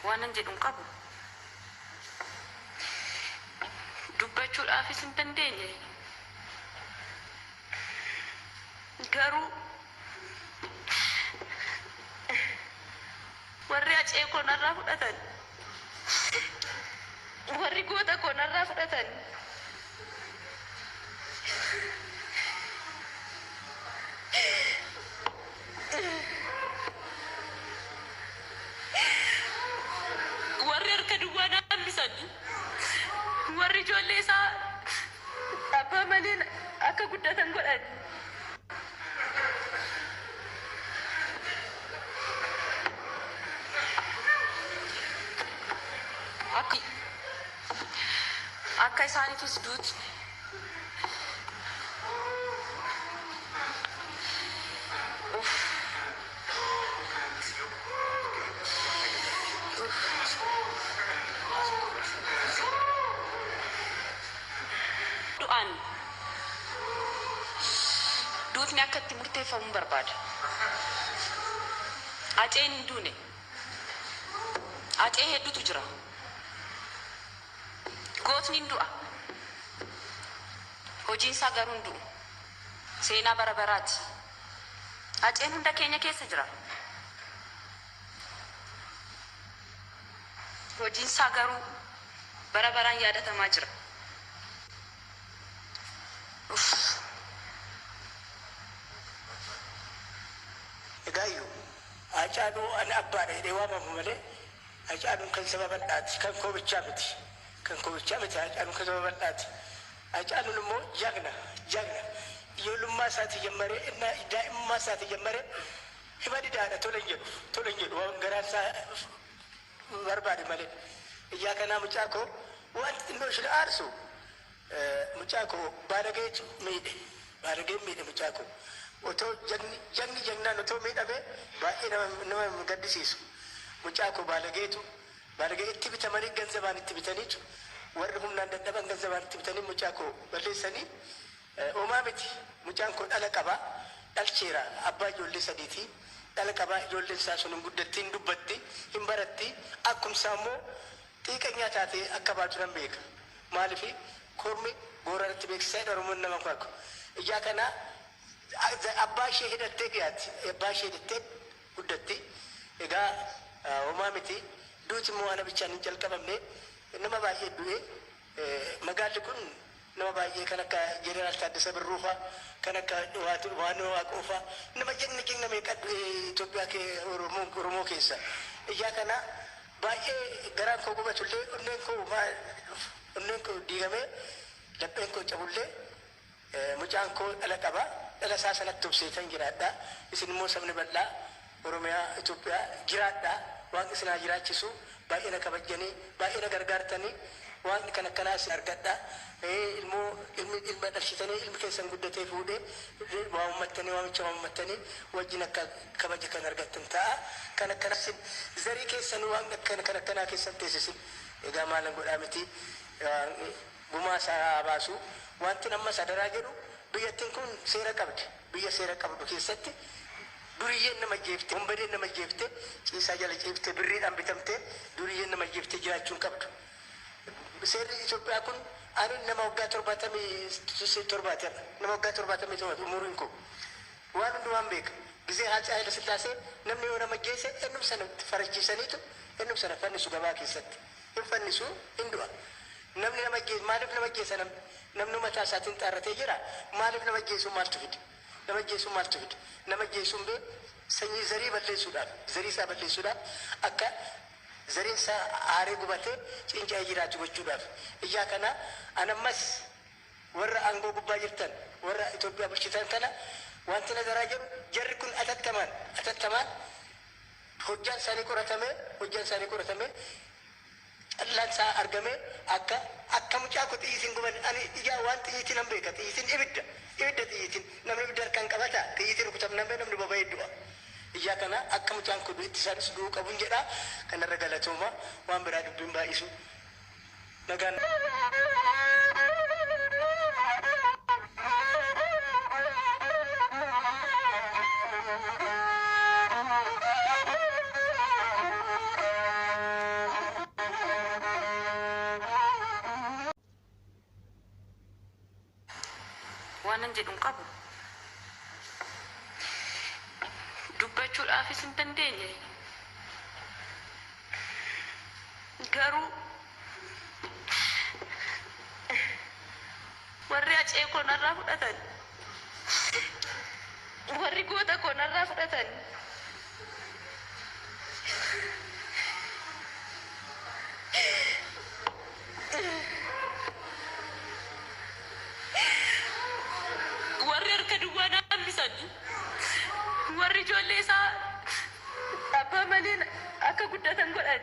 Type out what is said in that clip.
Waanan jedhu hin qabu. Dubbachuudhaafis hin dandeenye. Garuu warri hacee koo narraa fudhatan, warri goota koo narraa fudhatan, Warri harka duwwaa naannisan, warri ijoollee isaa abbaa malee akka guddatan godhan, akka isaaniifis duuti. Du'aan duutni akka itti murteeffamun barbaada. Aceen hin duune. Acee heddutu jira. Gootni in du'a, hojiin isaa garuu hin du'u. Seenaa bara baraa ti. Haceen hunda keenya keessa jira. Hojiin isaa garuu bara baraan yaadatamaa jira. Uff. Egaayyu, Haacaaluu an abbaadha jedhee waamamu malee, Hacaaluun kan saba bal'aati kan koo bichaa miti kan koo bichaa miti Hacaaluun kan saba bal'aati Hacaaluun immoo jagna jagna ijoollummaa isaatii jammaree innaa daa'imummaa isaatii jammaree hima didaadha tole hin jedhu tole hin jedhu waan garaan isaa barbaade malee ijaa kanaa mucaa koo waan xinnoo ishin aarsu Mucaa koo baalageetu miidhe. Baalageen miidhe mucaa koo. Otoo jagni jagni jagnaan otoo miidhame baay'ee nama nama hin gaddisiisu. Mucaa koo baalageetu baalagee itti bitamanii ganzabaan itti bitaniitu warri humnaan dadhaban ganzabaan itti bitanii mucaa koo balleessanii homaa miti mucaan koo dhala qaba dhalcheera abbaa ijoollee sadiiti dhala qaba ijoolleen isaa sun hin guddatti hin dubbatti hin baratti akkum isaa immoo Xiiqanyaa taatee akka baatu nan beeka. Maaliif kormi Booranatti beeksisa jedha Oromoon nama hin farku. Ijaa kana abbaa ishee hidhattee dhiyaatti. Abbaa ishee hidhattee guddatti. Egaa homaa miti. Duuti immoo ana bichaan hin jalqabamne. Nama baay'ee du'e. Magaalli kun nama baay'ee kan akka Jeneraal Taaddasa Birruu fa'a, kan akka Yohaanni Waaqoo fa'a, nama jagna jagna meeqa du'ee Itoophiyaa kee Oromoo keessa. Ijaa kana baay'ee garaan koo gubatullee, onneen koo onneen koo diigamee lapheen koo cabullee, Mucaan koo dhala qaba. Dhala isaa sanatti obseetan jiraadha. Isin immoo sabni bal'aa Oromiyaa, Itoophiyaa jiraadha. Waaqni isin haa jiraachisu. Baay'ee na kabajjani. Baay'ee na gargaartani. Waaqni kan akkanaa isin argadha. Ilmoo ilmi ilma dhalchitanii ilmi keessan guddatee fuudhee waamammattanii waamicha waamammattanii wajjin akka kabaja kan argattan ta'a. Kan akkanaa isin zarii keessan waaqni kan akkanaa keessan teessisin. Egaa maalan godhaa miti. Waaqni. gumaa isaa haa baasu. Wantin ammas adaraa jedhu biyyattin kun seera qabdi. Biyya seera qabdu keessatti duriyyeen nama ajjeeftee, wonbadeen nama ajjeeftee ciisaa jala ciiftee birriidhaan bitamtee duriyyeen nama ajjeeftee jiraachuu hin qabdu. Seerri Itoophiyaa kun ani nama waggaa 77ti har'a. Nama waggaa 77ti umuriin koo. Waan hundumaan beeka. Gizee Haatsee Hayilasillaasee namni yoo nama ajjeese ennum sana farachiisaniitu ennum sana fannisu gabaa keessatti. Hin fannisu, hin du'a. Namni nama ajjeesu maaliif nama ajjeesa namni? Namni mataa isaatiin xaarratee jira maaliif nama ajjeesuu maaltu fide? Nama ajjeesuu maaltu fide? Nama ajjeesuun bee sanyii zarii balleessuudhaaf, zarii isaa balleessuudhaaf akka zariin isaa aaree gubatee ciinca'ee jiraatu gochuudhaaf. Ijaa kanaa an ammas warra aangoo gubbaa jirtan, warra Itoophiyaa bulchitan kana waanti na daraa jedhu jarri kun atattamaan, atattamaan hojjaan isaanii qoratamee, hojjaan isaanii qoratamee, callaan isaa argamee akka akka mucaa koo xiyyiitiin hin gubanne ani ijaa waan xiyyiitii nan beeka xiyyiitiin ibidda ibidda xiyyiitiin namni ibidda harkaan qabata xiyyiitiin rukutamnaan bee namni boba'ee du'a ijaa kana akka mucaan koo du'etti isaanis du'uu qabun jedha kanarra galatooma waan biraa dubbii hin baay'isu nagaan waanan jedhu hin qabu. Dubbachuudhaafis hin dandeenye. Garuu Warri Hacee koo narraa fudhatan. Warri goota koo narraa fudhatan. Warri harka duwwaa na hambisan. Warri ijoollee isaa. abbaa malee akka guddatan godhan.